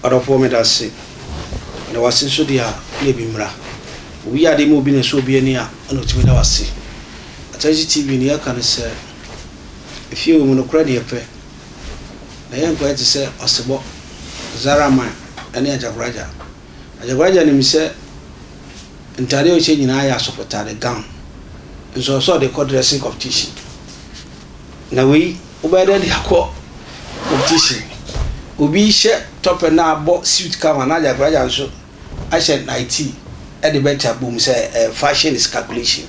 Ɔdɔfoɔ meda ase. Meda wo ase nso deɛ a na ebi mmra. Obi yɛ adeɛ ma obi na ɛsɔ obi ani a ɛna otumi da wo ase. Akyɛresi TV deɛ yɛka ne sɛ efie wɔ mu nokorɛ na yɛpɛ. na yɛnkɔyɛ te sɛ ɔsebɔ, Zaraman ne Ajabraja. Ajabraja nim sɛ ntade a ɔhyɛ nyinaa yɛ asɔfotade, gown, nso ɔsɛ ɔde kɔ dressing competition. Na wei, wobɛyɛ dɛ de akɔ competition. Obi hyɛ tɔpɛ na abɔ suit kama na Ajabraja nso ahyɛ Nayiti de bɛta bom sɛ eh, fashion is calculation.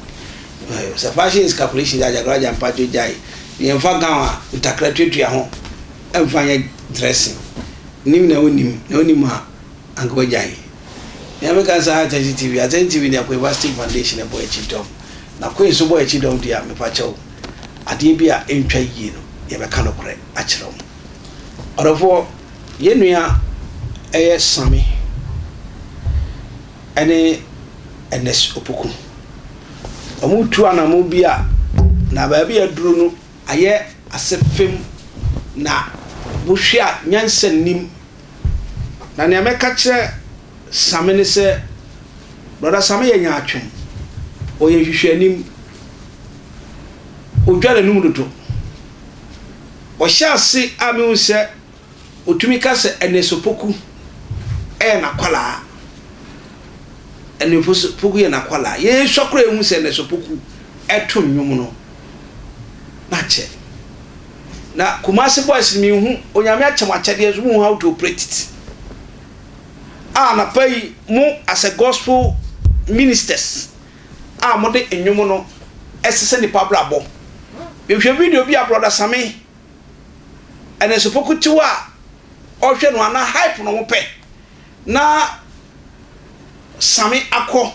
Eh, sɛ fashion is calculation dɛ agyakoraja mpacho gyae na yɛmfa gown a ntakra tuatua ho mfa nyɛ dressing. Nim na wonim na wonim a anka wagyae. Nea meka saa Atɛnkye TV, Atɛnkye TV deɛ Akwa Ibah State Foundation ɛbɔ akyi dɔm na Queen so bɔ akyi dɔm deɛ a mepakyɛw adeɛ bi a ɛntwa yie no yɛbɛka nokorɛ akyerɛ wo. Ɔdɔfoɔ Yɛn nua ɛyɛ Same ɛne Ernest Opoku. Ɔmo tu anamon bi a na baabi a aduru no ayɛ ase fem na wo hwɛ a nyansa nnim. Na nea mɛka kyerɛ Same ne sɛ Brɔda Same yɛ nyaatwom, ɔyɛ nhwehwɛanim, odware anum dodo. Ɔhyɛ ase a mehu sɛ Otumi ka sɛ Ɛneso Poku yɛ n'akwadaa. Ɛneso Poku yɛ n'akwadaa. Yɛsua koraa yɛhu sɛ Ɛneso Poku to nnwom no. Na kyɛ. Na Kumasi Boys no menhu, Onyame akyɛ mo akyɛdeɛ nso mohu how to operate it. A anapa yi mo as a gospel ministers a mode nnwom no ɛsesa nnipa abrabɔ. Mehwɛ video bi a Brɔda Same. ɛnɛsofo kutew a ɔhwɛ no anaa hype na wɔpɛ na same akɔ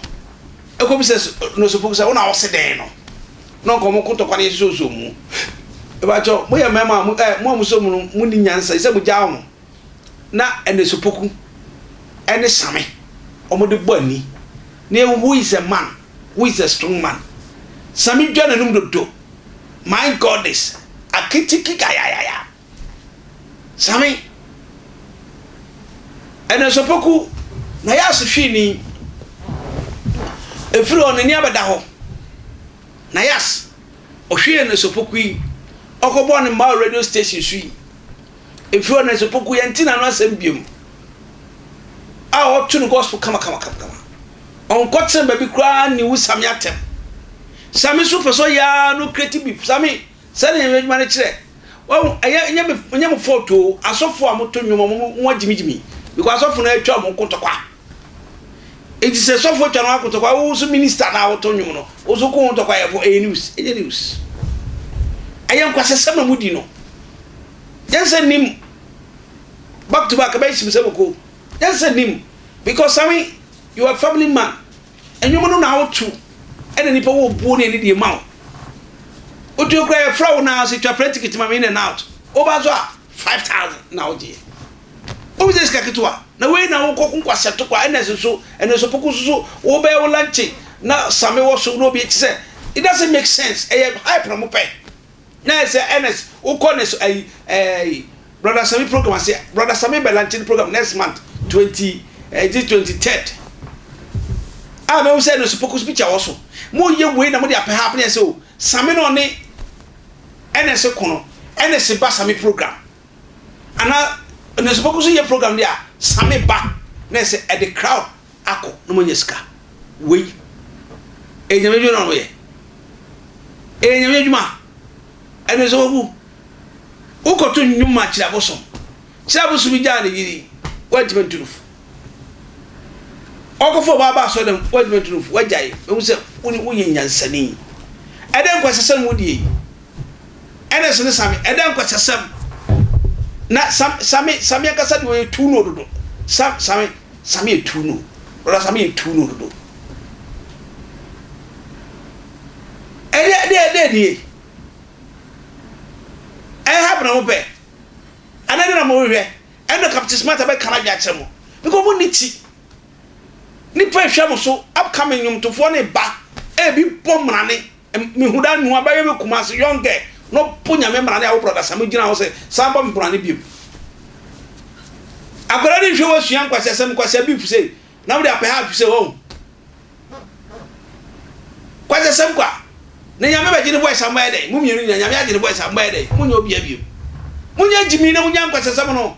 ɛkɔ bi sɛ nɛsofo sɛ wɔn a wɔse dɛn no na nka wɔn kotokwa no yɛ soso mu ɛbɛkyɛ mo yɛ mmarima mo ɛ mo a mo so mu no mo ni nyansa sɛ mo gya wɔn na ɛnɛsopoku ɛne same wɔn de bɔ ani na ehu is a man. who is a strong man Sami dwa n'anum dodo my goddess akitiki gayayaya Sami ɛnɛ sopoku na yɛ asehwini efiri hɔ n'ani abɛda hɔ na yas ɔhwie ne sopoku yi ɔkɔbɔ ne mmaa radio station so yi. Efi hɔ no nso Poku yɛnte n'ano asɛm biom a ɔto no gospel kama kama kama kama. Ɔnkɔtena baabi koraa nni wo Same atɛm. Same nso pɛ sɛ ɔyɛ ara na ɔkreti beef. Same, saa na yɛn adwuma no kyerɛ. Wahu, ɛyɛ, ɛnyɛ me, ɛnyɛ mo fault o, asɔfo a moto nnwom a wɔn, wɔn agyimigyimi, because asɔfo no atwa wɔn ho ko ntɔkwa. Enti sɛ sɔfo twa no ako tɔkwa, wo nso minista na woto nnwom no, wo nso ko ho tɔkwayɛfo, ɛyɛ news? Ɛnyɛ news. Ɛyɛ nkwasasɛm na mudi no. Nyansa nnim. Back to back, ɛbɛyɛ hyem sɛ boko. Nyansa nnim. Because Sami, you are a family man. Nnwom no na woto, ɛna nipa wɔ obuo ne ani deɛ ma wo. Otuo koraa yɛfrɛ wo na sɛ twa prɛntikiti ma me in and out. Woba so a, 5,000 na wogyeɛ. Wo bɛgye sika ketewa na wei na wo kɔ kunkwa sɛ tokwa ɛna ɛsɛ so ɛna ɛsɛ poko so so wo bɛyɛ wo lanche na same wɔ so na obi ɛkyi sɛ it doesn't make sense ɛyɛ hype na mo pɛ na ɛsɛ ɛna wo kɔ na ɛsɛ ayi ɛɛ brother same program ase brother same bɛ lanche ne program next month twenty ɛɛ this twenty third a mɛ wo sɛ ɛna ɛsɛ poko so picture wɔ so mo yɛ wei na mo de apɛ ha apɛ ɛsɛ o same na ɔne ɛna ɛsɛ kono ɛna ɛsɛ ba same program Ana onyansapɛ koso yɛ program de a same ba na ɛsɛ ɛde crowd akɔ na ɔmo anya sika wei ɛyɛ nyame adwuma na ɔmo yɛ ɛyɛ nyame adwuma ɛno ɛsɛ wawu wokɔto nnwom ma kyerɛ abosom kyerɛ abosom bi gyaa ne yiri wantumi nto no fu ɔkɔfo ɔbaa ba asɔ dɛm wantumi nto no fu wagyae ehu sɛ wone wonyɛ nyansani ɛdɛ nkwa sesɛm wodie Ernest ne Sammy, ɛdɛn nkwasasɛm! Na Sam, Sammy, Sammy ankasa deɛ ɔyɛ tuu no dodo. Sam, Sammy, Sammy yɛ tuu no. Brɔda Sammy yɛ tuu no dodo. Ɛdeɛ, ɛdeɛ, ɛdeɛ nie. Ɛha bena mo pɛ. Ɛna ɛdeɛ na mo rehwɛ. Ɛna Captain Smart abɛka no adwene akyerɛ mo. Because mo ni ti. Nipa ehwɛ mo so, upcoming nnwomtofoɔ ne ba, ebi bɔ mmerane. Mehu da nua bɛyɛ me kumase young girl na ɔpo nyame mmara ne awo brɔda same gyina hɔ sɛ san bɔ me brane biom akwadaa ne nhwɛ wasua nkwasiasɛm nkwasia beef sei na wode apɛ half sɛ wahu kwasiasɛm kwa ne nyame bɛgye ne voice ammɛyɛ dɛn mo mmienu nyina nyame agye ne voice ammɛyɛ dɛn monyɛ obia biom monyɛ gyimi na monya nkwasiasɛm no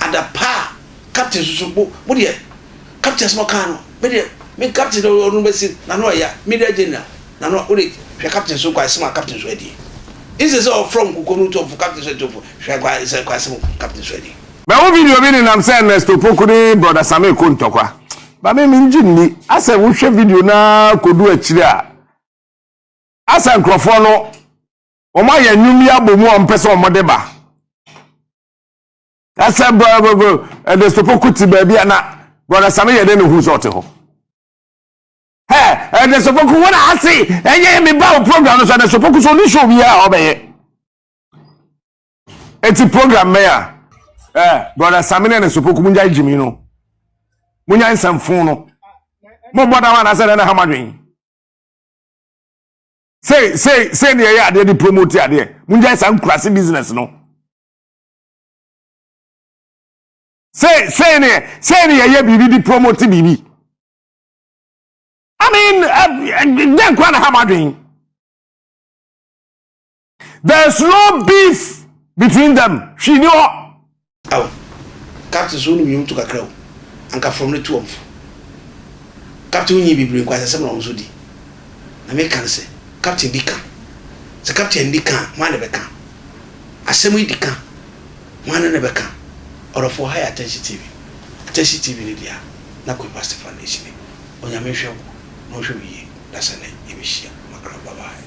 adapaa a captain susu mo mo deɛ captain asɛm ɔkaa no me deɛ me captain deɛ ɔno bɛsi n'ano ɛya media general n'ano wode hwɛ captain so kwae sɛm a captain so adie instead sɛ ɔfrɔ nkoko no tɔfo captain so ɛtɔfo hwɛ kwae sɛ kwae sɛm captain so adie. Mahu video bi nenam sɛ Ernest Opoku ne Brɔda Same rekɔ ntɔkwa. But me mengye nni. Asɛ wohwɛ video no ara kɔdu akyiri a, asɛ nkurɔfoɔ no wɔayɛ nnwom yi abɔ mu a wɔpɛ sɛ wɔde ba. na sɛ ɛde sopo ko te baabi a na brɔda same yɛ dɛ na ohun sɛ ɔte hɔ ɛ ɛde sopo ko wɔn a ase ɛnyɛ mi ba o program no so ɛde sopo ko so ne show bi a ɔbɛyɛ eti program bɛyɛ a ɛ brɔda same ne ɛde sopo ko mu nya gyimi no mu nya nsɛmfo no mo bɔ da hɔ anasɛ ɛde na ha ma dwen sei sei sei ne ɛyɛ adeɛ de promote adeɛ mo nya nsa nkurase business no. Say, say ne say ne yɛyɛ biribi de promote biribi i mean dɛn kora na ha ma adwen there's no beef between them hwii ni hɔ aw captain so wonim nwom to kakra o anka fam no to wɔmfo captain wonyi bibire nkwa sɛsɛm na wɔn so di na meka no sɛ captain di ka sɛ captain di ka hwan na bɛka Asɛm yi di ka, Hwan ne no bɛka? Ɔdɔfo, ha yɛ Atɛnhye TV. Atɛnhye TV no deɛ a, na Kweipa Stefan ɛsi ni. Onyame nhwɛ wo na ɔnhwɛ wo yie na sɛ nnɛ yɛbɛhyia ma kra bye bye.